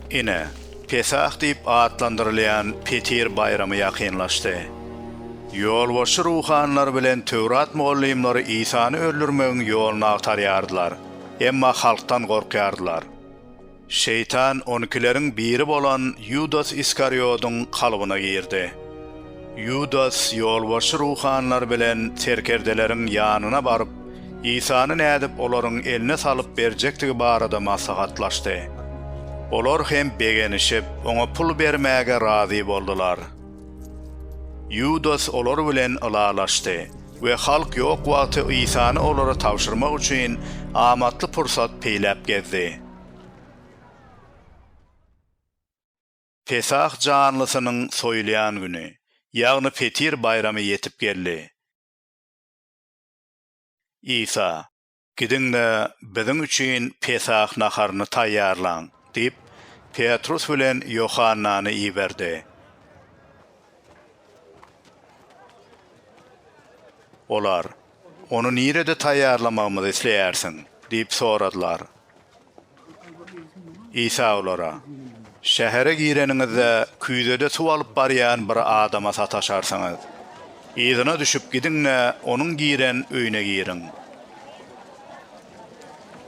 Ine, Pesah diýip atlandyrylýan Petir baýramy ýakynlaşdy. Ýolbaşçy ruhanylar bilen Töwrat mugallymlary Isany öldürmegiň ýoluny agtarýardylar, emma halkdan gorkýardylar. Şeýtan on ikileriň biri bolan Ýudas Iskariýodyň kalbyna girdi. Ýudas ýolbaşçy ruhanylar bilen serkerdeleriň ýanyna baryp, Isany nädip olaryň eline salyp berjekdigi barada maslahatlaşdy. Olar hem begenişip, oňa pul bermäge razy boldular. Ýudas olar bilen ylalaşdy we halk ýok wagty Isany olara tabşyrmak üçin amatly pursat peýläp gezdi. Pesah janlysynyň soýulýan güni, ýagny Petir baýramy ýetip geldi. Isa, Gidiň-de, biziň üçin Pesah naharyny taýýarlaň! diýip, Petrus bilen Ýohannany iberdi. Olar, Ony nirede taýýarlamagymyzy isleýärsiň? diýip soradylar. Isa olara, Şähere gireniňizde, küýzede suw alyp barýan bir adama sataşarsyňyz. Yzyna düşüp gidiň-de, onuň giren öýüne giriň.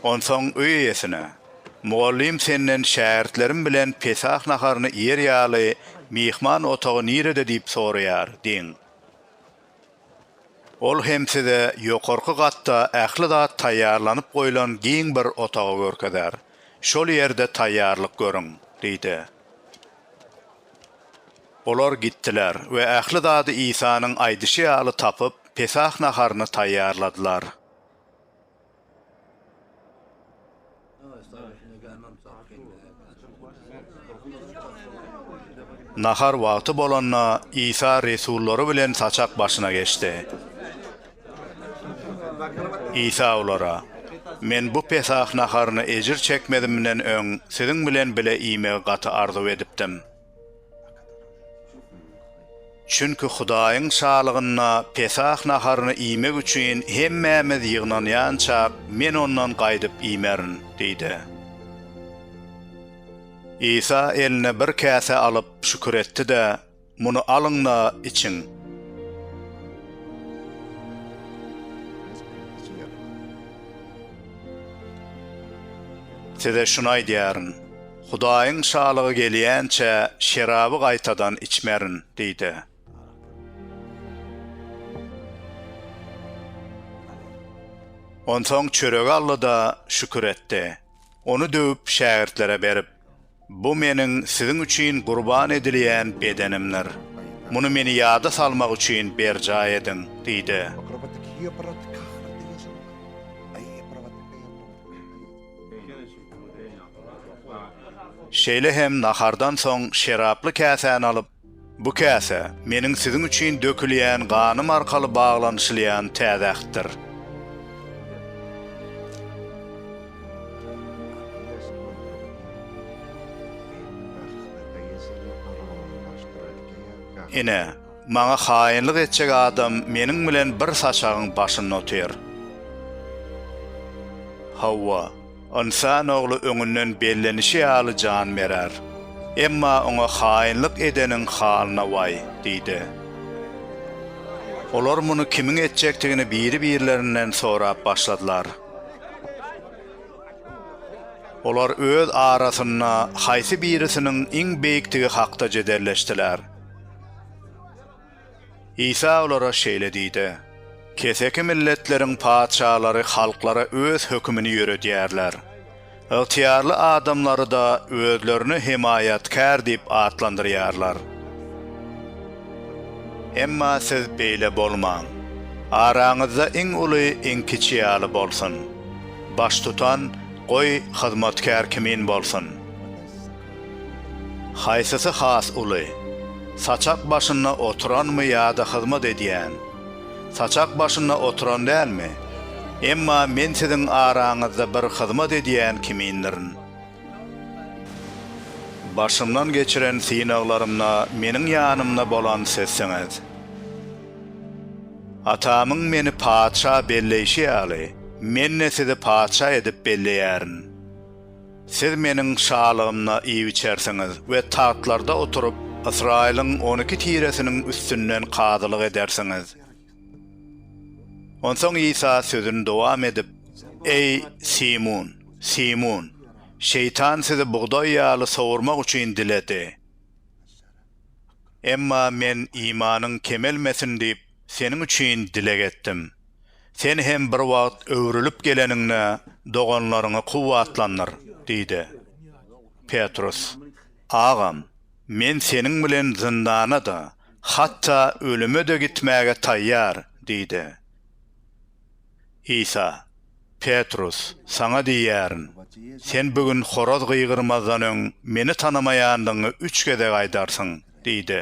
Onsoň öý eýesine, Mugallym senden şägirtlerim bilen Pesah naharyny iýer ýaly, myhman otagy nirede diýip soraýar diýiň. Ol hem size ýokarky gatda ähli zat taýýarlanyp goýlan giň bir otagy görkezer. Şol ýerde taýýarlyk görüň, diýdi. Olar gitdiler we ähli zady Isanyň aýdyşy ýaly tapyp, Pesah naharyny taýýarladylar. Nahar wagty bolanda, Isa resullary bilen saçak başyna geçdi. Isa olara, Men bu Pesah naharyny ejir çekmezimden öň siziň bilen bile iýmegi gaty arzuw edipdim. Çünki Hudaýyň Şalygynda Pesah naharyny iýmek üçin hemmämiz ýygnanýançak, men ondan gaýdyp iýmerin diýdi. Isa eline bir käse alyp, şükür etdi-de, Muny alyň-da, içiň. Size şuny aýdýaryn. Hudaýyň Şalygy gelýänçä şeraby gaýtadan içmerin diý-de. Onsoň çöregi aldy-da, şükür etdi. Ony döwüp, şägirtlere berip, Bu Meniň siziň üçin gurban edilýän bedenimdir. Muny Meni ýada salmak üçin berjaý ediň diý-de. Şeýle hem nahardan soň şeraply käsäni alyp, Bu käse, Meniň siziň üçin dökülýän ganym arkaly baglanyşylýan täze ähtdir. Ine, Maňa haýynlyk etjek adam meniň bilen bir saçagyň başynda otyr. Hawa, Ynsan Ogly öňünden bellenişi ýaly jan berer. Emma oňa haýynlyk edeniň halyna waý! diýdi. Olar muny kimiň etjekdigini biri-birlerinden sorap başladylar. Olar öz arasynda haýsy birisiniň iň beýikdigi hakda jedelleşdiler. Isa olara şeýle diýdi, Keseki milletleriň patyşalary halklara öz hökümini ýöredýärler. Ygtyýarly adamlary-da özlerini hemaýatkär diýip atlandyrýarlar. Emma siz beýle bolmaň. Araňyzda iň uly iň kiçi ýaly bolsun. Baştutan, goý, hyzmatkär kimin bolsun. Haýsysy has uly? Saçak başynda oturanmy ýa-da hyzmat edýän? Saçak başynda oturan dälmi? Emma men siziň araňyzda bir hyzmat edýän kimindirin. Başymdan geçiren synaglarymda meniň ýanymda bolan sizsiňiz. Atamyň meni patyşa belleýşi ýaly, men-de sizi patyşa edip belleýärin. Siz Meniň şalygymda iýip-içersiňiz we tagtlarda oturyp, Ysraýylyň on iki tiresiniň üstünden kazylyk edersiňiz. Onsoň Isa sözüni dowam edip, Eý, Simun, Simun, Şeýtan sizi bugdaý ýaly sowurmak üçin diledi. Emma men imanyň kemelmesin diýip, seniň üçin dileg etdim. Sen hem bir wagt öwrülip geleniňde doganlaryňy kuwwatlandyr diýdi. Petrus, Agam, men seniň bilen zyndana-da, hatda ölüme-de gitmäge taýýar diýdi. Isa, Petrus, saňa diýýärin, sen bu gün horaz gygyrmazdan öň Meni tanamaýandygyňy üç gezek aýdarsyň diýdi.